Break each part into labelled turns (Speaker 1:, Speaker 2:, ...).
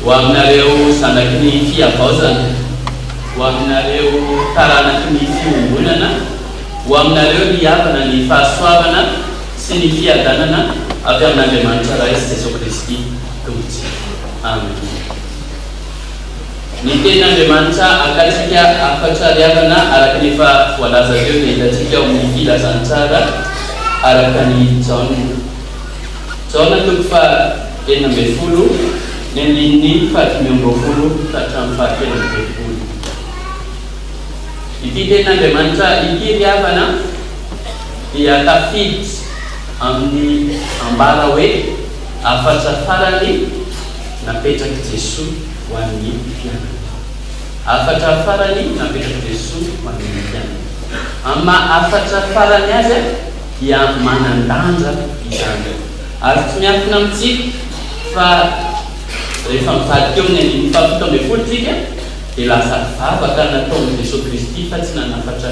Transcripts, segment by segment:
Speaker 1: Ho aminareo zanaky ny fihavaozana, ho aminareo taranaky ny fiombonana, ho aminareo ry havana ny fahasoavana sy ny fiadanana avy amin'Andriamanitra Ray sy Jesoa Kristy Tompontsika. Amena. Ny Teny Andriamanitra akatsika afa-tsariavana araka ny efa voalaza teo dia hitantsika ao amin'ny Filazantsara araka an'i Jaona. Jaona toko faha enina ambin'ny folo, ny andininy fahadimy amby roapolo ka hatramin'ny fahatelo amby telopolo. Ity Teny Andriamanitra ity ry havana dia tafiditra amin'ny ambara hoe. Hafatra farany napetrak'i Jesoa ho an'ny mpianany. Hafatra farany napetrak'i Jesoa ho an'ny mpianany. Amin'ny maha hafatra farany azy dia manan-danja izany. Ary tsy miafina amintsika fa rehefa mivadika eo amin'ny andininy fahafito ambin'ny folo isika dia lasa vavaka nataon'i Jesoa Kristy fa tsy nanafatra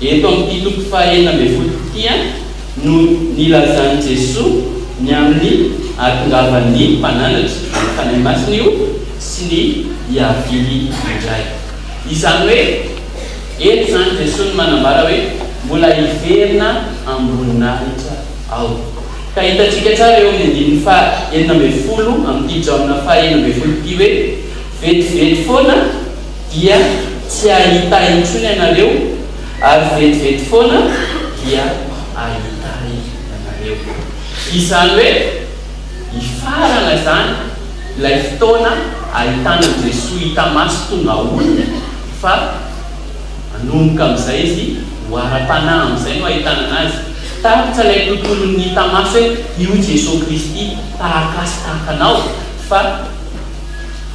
Speaker 1: Eto amin'ity toko fahenina ambin'ny folo ity no nilazan'i Jesoa ny amin'ny hahatongavan'ny mpananatra ny Fanahy Masina io sy ny hiaviany indray. Izany hoe eto izany Jesoa no manambara hoe mbola hiverina am-boninahitra aho. Ka hitantsika tsara eo amin'ny andininy faha enina ambin'ny folo amin'ity Jaona faha enina ambin'ny folo ity hoe vetivety foana, dia tsy hahita intsony ianareo, ary vetivety foana dia hahita Ahy ianareo. Izany hoe, hifarana izany ilay fotoana hahitana an'i Jesoa hita maso tonga olona, fa manomboka amin'izay Izy ho ara-panahy, amin'izay no hahitana an'Azy. Tapitra ilay tontolon'ny hita maso hoe io Jesoa Kristy tahaka ahy sy tahaka anao, fa.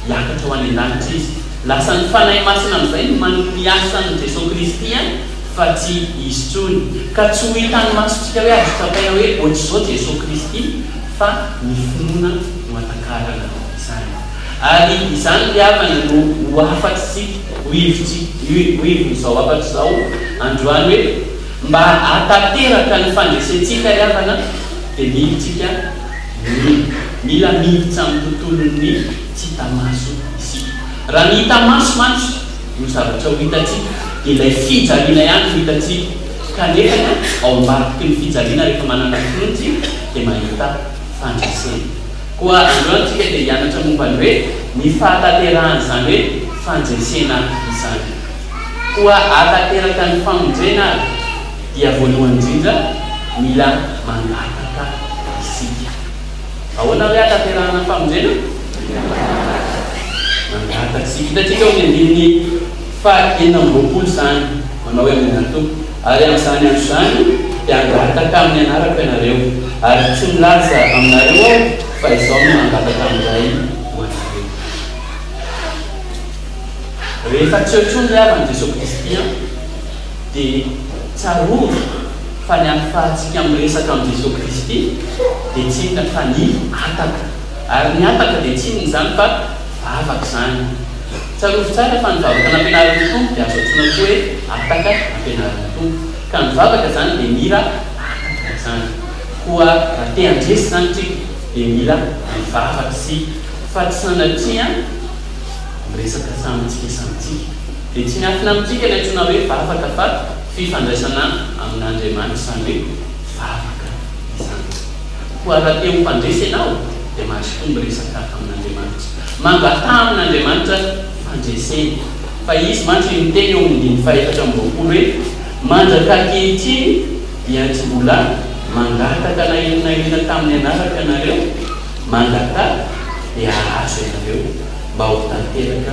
Speaker 1: hiakatra ho any an-danitra izy. Lasa ny Fanahy Masina amin'izay no manome ny asan'i Jesoa Kristy any fa tsy izy intsony. Ka tsy ho hitan'ny masontsika hoe azo tsapaina hoe ohatr'izao Jesoa Kristy fa ny finoana no hatakarana izany. Ary izany ry havana no ho hafatr'isika, ho hevitsika, ho hevon'izao hafatra izao androany hoe mba hahatanteraka ny fandresentsika ry havana dia mily tsika ny. Mila miditra amin'ny tontolon'ny tsy hita maso isika. Raha ny hita maso mantsy no zavatra ho hitantsika, dia ilay fijaliana ihany no hitantsika. Kanefa ao ambadiky ny fijaliana rehefa manana ny finoana isika dia mahita fandresena. Koa androany isika dia hianatra momba ny hoe ny fahatanterahan'izany hoe fandresena izany. Koa ahatanteraka ny famonjena ary. dia voalohany indrindra mila mangataka isika. Ahoana hoe ahatanterahana ny famonjena? Mila mangataka. Mangataka isika. Hitantsika ao amin'ny andininy faha enina amby roapolo izany, manao hoe Amena ny Tompo, ary amin'izany andro izany dia hangataka amin'ny anarako ianareo, ary tsy milaza aminareo aho fa izaho no mangataka amin'ny Ray ho anareo. Rehefa tsy eo intsony ny havan'i Jesoa Kristy an! Dia tsarovy fa ny ahafahantsika miresaka amin'i Jesoa Kristy dia tsy inona fa ny hataka. Ary ny hataka dia tsy inona izany fa vavaka izany. Tsarovy tsara fa ny vavaka nampianarin'ny Tompo dia azo antsoina koa hoe hataka nampianarin'ny Tompo. Ka ny vavaka izany dia mila hataka izany. Koa raha te handresy izany isika dia mila mivavaka isika fa tsy sanatria miresaka samintsika samintsika. Dia tsy miankina amintsika ilay antsoina hoe vavaka fa fifandraisana amin'Andriamanitra, izany hoe vavaka izany. Koa raha te ho mpandresy ianao dia mazotoa miresaka amin'Andriamanitra. Mangataha amin'Andriamanitra fandresena fa Izy mantsy io niteny eo amin'ny dimy fahefatra amby roapolo hoe, Mandraka ankehitriny dia tsy mbola mangataka na inona na inona tamin'ny anarako ianareo, mangataha dia hahazo ianareo mba ho tanteraka.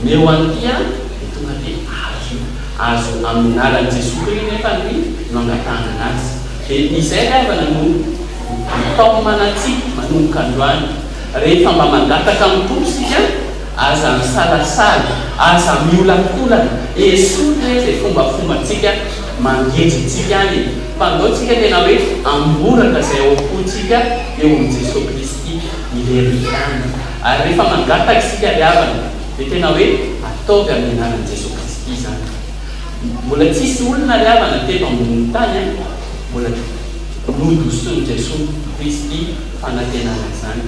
Speaker 1: Meo an'ity an, dia tonga dia azo io. Azo amin'ny anaran'i Jesoa Kri nefa ny no angatahana anazy. Dia izay ry havana no atao manatsipy manomboka androany. Rehefa mba mangataka amin'ny Tompo isika, aza misalasala, aza miolakolana, esory re izay fombafombantsika mangeja antsika any e. Fandao tsika tena hoe amboraka izay ao am-pontsika eo amin'i Jesoa Kristy irery ihany. Ary rehefa mangataka isika ry havana dia tena hoe ataovy amin'ny anaran'i Jesoa Kristy izany. Mbola tsy hisy olona ry havana teto ambonin'ny tany an! mbola nodosoin'i Jesoa Kristy fanantenana izany.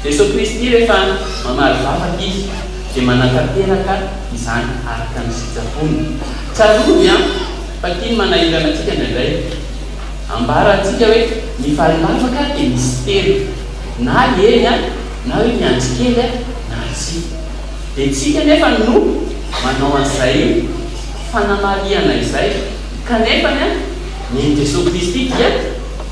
Speaker 1: Jesoa Kristy rehefa mamaly vavaka Izy dia manatanteraka izany araka ny sitrapony. Tsarovy an! fa tiany manahirana antsika indraindray. Ambara antsika hoe ny valilavaka dia misy telo na eny an! Na io miandry kely na tsia. Dia tsika anefa no manao an'izay fanamarihana izay. Kanefa ny Jesoa Kristy dia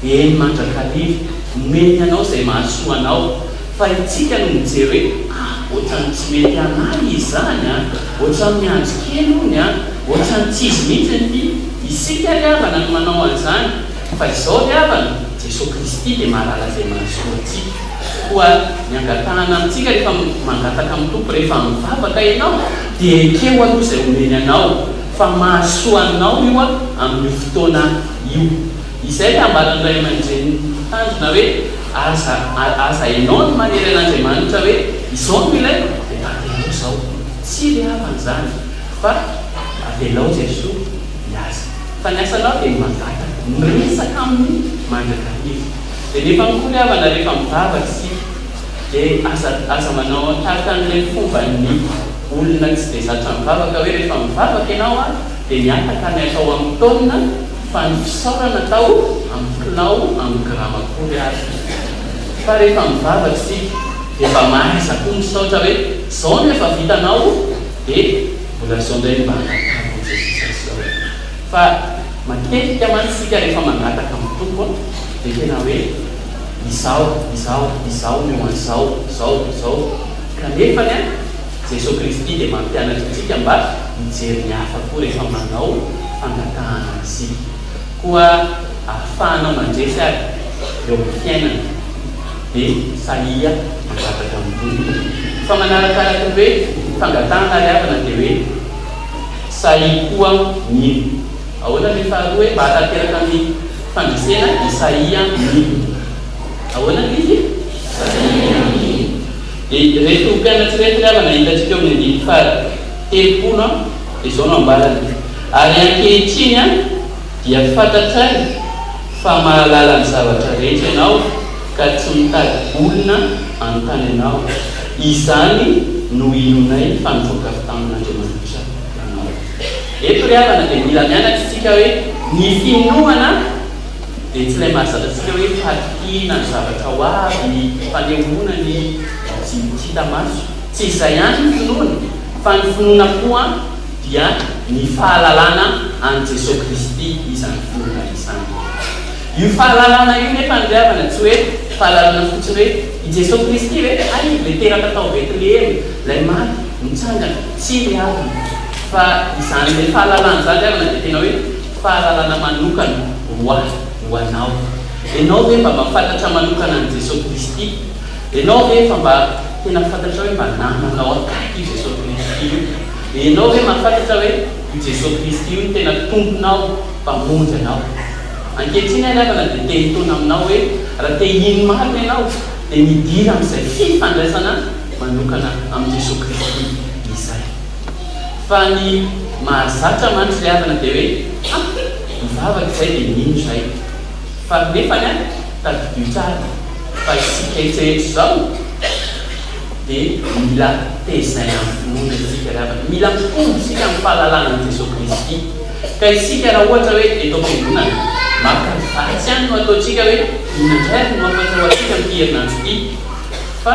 Speaker 1: eny mandrakariva, omeny anao izay mahasoa anao. Fa itsika no mijery hoe, ah, ohatran'ny tsy mety an'ahy izany an, ohatran'ny miandry kely ony an, ohatran'ny tsy izy mihitsy ity. Isika ry havana no manao an'izany. Fa izao ry havana, Jesoa Kristy dia mahalala izay mahasoa antsika. Koa ny angatahana amintsika rehefa mangataka amin'ny Tompo, rehefa mivavaka ianao, dia ekeo aloha izay omeny anao, fa mahasoa anao io amin'io fotoana io. Izay ilay ambaran'ny ray aman-drenin'ny tanjona hoe, aza aza ianao no manery an'Andriamanitra hoe izao no ilaiko, dia tadiavinao izao. Tsy ilay havany izany, fa avelao Jesoa hiasa. Fa ny asanao dia ny mangataka, miresaka aminy mandrakariva. Dia nefa akory havana rehefa mivavaka isika dia aza aza manao tahaka an'ireny fovan'ny olona tsy dia zatra mivavaka hoe rehefa mivavaka ianao a dia mihataka ny atao amin'ny taonina fa ny fisaorana atao amin'ny kilao amin'ny grama akory ary fa rehefa mivavaka isika dia mba mahaiza koa misaotra hoe zao no efa vitanao dia mbola zao indray ny mba hangatahako an'i Jesosy azy zao e. Fa matetika mantsy isika rehefa mangataka amin'ny Tompo dia tena hoe izao, izao, izao no an zao, zao, zao. Kanefany an, Jesoa Kristy dia mampianatra antsika mba hijery ny hafa koa rehefa manao fangatahana isika. Koa ahafahanao mandresy ary eo amin'ny fiainana dia sahia mangataka amin'ny Tompo. Fa manarakaraka ny hoe fangatahana ry havana dia hoe. Isaïe koa mino. Ahoana ny faharoa hoe mba hahatanteraka ny fandresena? Isaïe mino. Ahoana ny izy? Isaïe mino. Dia ireto mpianatra ireto ry havana hitantsika eo amin'ny andininy fahatelopolo dia izao no ambarany, Ary ankehitriny dia fantatray fa mahalala ny zavatra rehetra ianao ka tsy mitady olona hanontany anao. Izany no inoanay fa nivoaka avy tamin'Andriamanitra. anao. Eto ry havana dia mila mianatra isika hoe ny finoana dia tsy ilay mahazatra antsika hoe fahatokiana ny zavatra ho avy, fanehoana ny tsy hita maso. Tsy izay ihany ny finoana fa ny finoana koa dia ny fahalalana an'i Jesoa Kristy izany finoana izany. Io fahalalana io nefany ry havana tsy hoe fahalalana fotsiny hoe i Jesoa Kristy ve? Hay ilay teraka tao Betlehema, ilay maty, nitsangana. Tsia ry havana, fa izany ilay fahalalana izany ry havana dia tena hoe fahalalana manokana ho ahy, ho anao. Ianao ve mba mahafantatra manokana an'i Jesoa Kristy? Ianao ve efa mba tena fantatrao hoe mba namanao akaiky io Jesoa Kristy io? Ianao ve mahafantatra hoe io Jesoa Kristy io no tena Tomponao, Mpamonjy anao? Ankehitriny aho ry havana dia te-hitoana aminao hoe raha te-hino marina ianao dia midira amin'izay fifandraisana manokana amin'i Jesoa Kristy izay. Fa ny mahazatra mantsy ilay havana dia hoe ha! mivavaka izay dia mino izay. Fa nefany an, tadidio tsara fa isika etsy rehetra izao dia mila tezaina amin'ny finoana isika ry havana. Mila mitombo isika amin'ny fahalalana an'i Jesoa Kristy. Ka isika raha ohatra hoe eto am-piangonana, maka ny vatsy ihany no ataontsika hoe inona indray ary no ampahatsiaroantsika amin'ity herinandro ity. Fa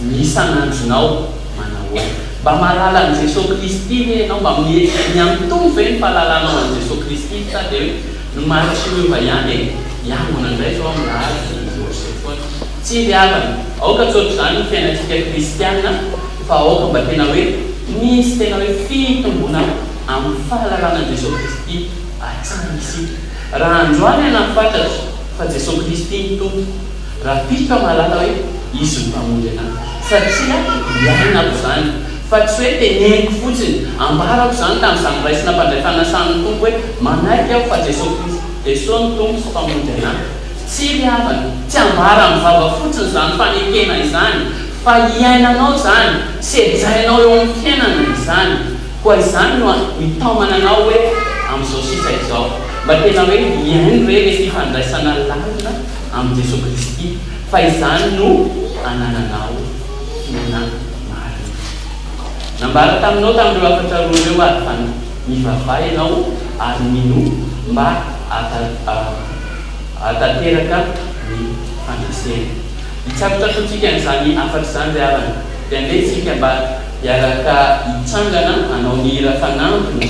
Speaker 1: ny isan'andronao manahoana? Mba mahalala an'i Jesoa Kristy ve ianao? Mba miha-miha-mitombo ve ny fahalalanao an'i Jesoa Kristy? Sa dia hoe ny maritry ny ova ihany e? Hiangona indray izao amin'ny alahady dia hiorse foana. Tsia ry havana, aoka tsy ohatr'izany ny fiainantsika kristiana fa aoka mba tena hoe misy tena hoe fitomboana amin'ny fahalalana an'i Jesoa Kristy hatrany isika. Raha androany ianao fantatry fa Jesoa Kristy no Tompo, Raha tiako hamarana hoe izy no mpamonjy anà satria iainako izany fa tsy hoe teneniko fotsiny, ambarako izany tamin'izany raisina mpandray fanasan'ny Tompo hoe manaiky aho fa Jesoa Kristy Jesoa no Tompo sy Mpamonjy anà. Tsia ry havana, tsy ambara amin'ny vava fotsiny izany fanekena izany fa iainanao izany, sedrainao eo amin'ny fiainana izany. Koa izany no mitaomana anao hoe amin'izao sisa izao mba tena hoe mihaino re ilay fifandraisana lalina, amin'i Jesoa Kristy fa izany no anananao tena marina. Nambara taminao tamin'ireo hafatra roa ireo ary fa nivavaha ianao ary ninoa mba hahatanteraka ny fandresena. Hitsakotsakoantsika an'izany hafatra izany ry havana. Dia andeha isika mba hiaraka hitsangana hanao ny hira fanampiny.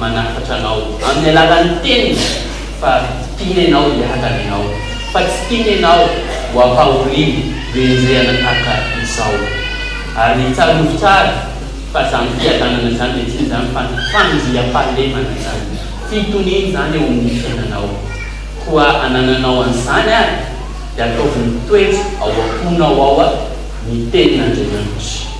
Speaker 1: manafatra anao amin'ny alalan'ny teniny fa tiany ianao hiadana ianao, fa tsy tiany ianao ho ampahoriany hoenjehana tahaka izao. Ary tsarovy tsara fa izany fiadanana izany dia tsy inona izany fa ny fandriampahalemana izany, fitoniana izany eo amin'ny fiainanao. Koa anananao an'izany ary dia ataovy mitoetra ao am-ponao ao ny tenin'Andriamanitra.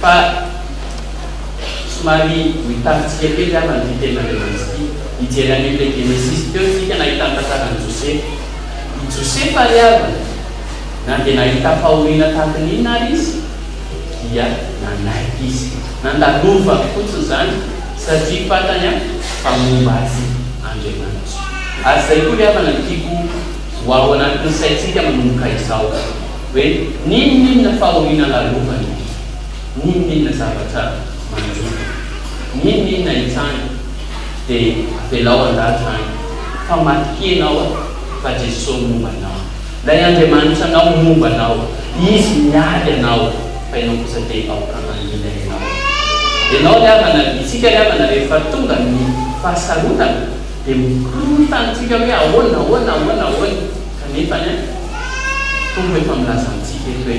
Speaker 1: Fa somary mitaky tsika kely ary amin'ity tena Levizy ity. Hijery any amin'ilay Genesisy teo isika nahitany tantaran'i Josefa. I Josefa ry havana, na dia nahita fahoriana tahaka ny inona ary izy, dia nanaiky izy. Nandalovany fotsiny izany satria fantany an fa momba azy Andriamanitra. Ary izay koa ry havana no tiako ho ao anatin'ny saintsika manomboka izao. hoe n'inon'inona fahoriana lalovany, n'inon'inona zavatra mangidy, n'inon'inona itsany dia avelao handalo izany fa matokia ianao a, fa Jesosy momba anao, ilay Andriamanitra anao momba anao, Izy miady anao fa ianao kosa dia aoka mangina ianao. Ianao ry havana, isika ry havana rehefa tonga ny fahasarotana dia mikorontana antsika hoe ahoana, ahoana, ahoana, ahoana. Kanefany an, ny Tompo efa milaza amintsika eto hoe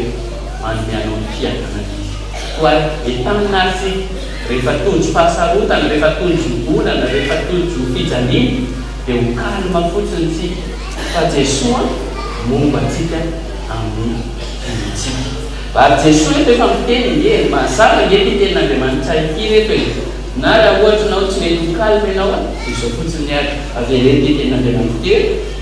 Speaker 1: manome anao ny fiainana Izy. Koa entanina ary isika, rehefa tojo fahasarotana, rehefa tojo olana, rehefa tojo fijaliana, dia ho calme fotsiny isika, fa Jesoa momba antsika amin'ny fiainantsika. Ary Jesoa eto efa miteny nge, mazava nge ity tenin'Andriamanitra ity reto e! Na raha ohatra ianao tsy mety ho calme ianao an, dia izao fotsiny ary, avereno ity tenin'Andriamanitra ity hoe,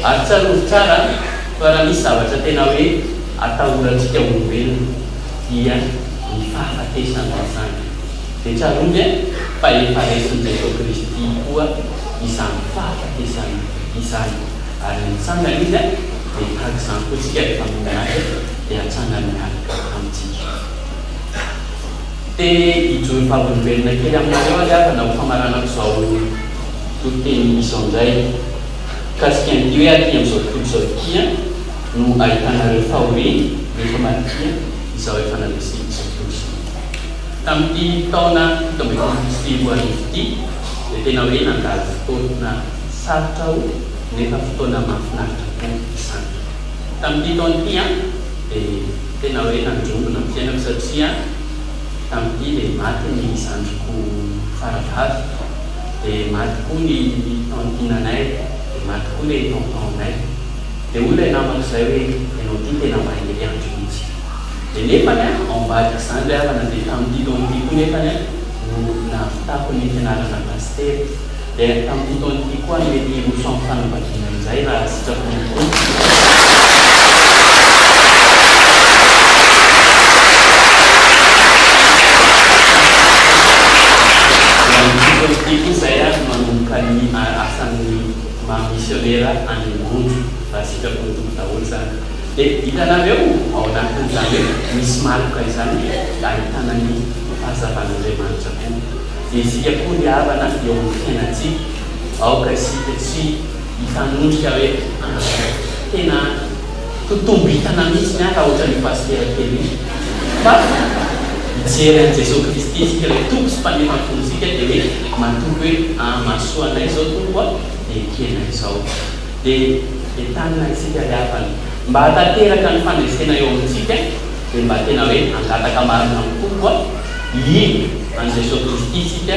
Speaker 1: Ary tsarovy tsara fa raha misy zavatra tena hoe atahorantsika olombelona dia ny fahafatesana izany. Dia tsarovy an, fa efa resin'i Jesoa Kristy koa izany fahafatesana izany. Ary nitsangana Izy an, dia tahaka izany koa tsika rehefa mino Azy dia hatsangany miaraka amintsika. Te hijoro vavolombelona kely aminareo ary aho na ho famaranako izao toriteny izao indray. Mikasika an'ity hoe aty amin'izao tontolo izao ity an, no ahitanareo fahoriana rehefa madinika izao efa nandresy izao tontolo izao ity. Tamin'ity taona fito ambin'ny folo sy roa arivo ity dia tena hoe nandalo fotoana sarotra aho nefa fotoana mahafinaritra koa izany. Tamin'ity taona ity an, dia tena hoe nandrombona ny fiainako satria tamin'ity dia maty ny zandriko faravavy. de maty koa ny tantinanay de maty koa le tonton-nay de hoy ilay namako zay hoe ianao ty tena mahery andro mihitsy de nefany an ao ambadika zany ry havana de tamin'ity taona ty koa nefany an no nahavitako ny fianarana pasitera de tamin'ity taona ty koa mety hiroso amin'ny fanaovan-. Indraindray raha sitrako ny Ity koa izay ary manomboka ny asan'ny maha misionera any ambony raha sitrapo ny Tompo daholo izany. Dia hitanareo ao anatin'izany hoe misy maloka izany dia ahitana ny fahazavan'Andriamanitra koa. Dia isika koa ry havana eo amin'ny fiainantsika. Aoka isika tsy hifanondrika hoe ah tena ho tombitana mihitsy ny ahy raha ohatran'io pasitera kely io fa mijery an'i Jesoa Kristy isika ilay Tompo sy Mpanefa ny fontsika dia hoe matoky hoe ah mahasoa anay izao Tompo ah dia ekena izao dia entanina isika ry havana mba hatanteraka ny fandresena eo amintsika dia mba tena hoe hangataka marina amin'ny Tompo ah hihidy an'i Jesoa Kristy isika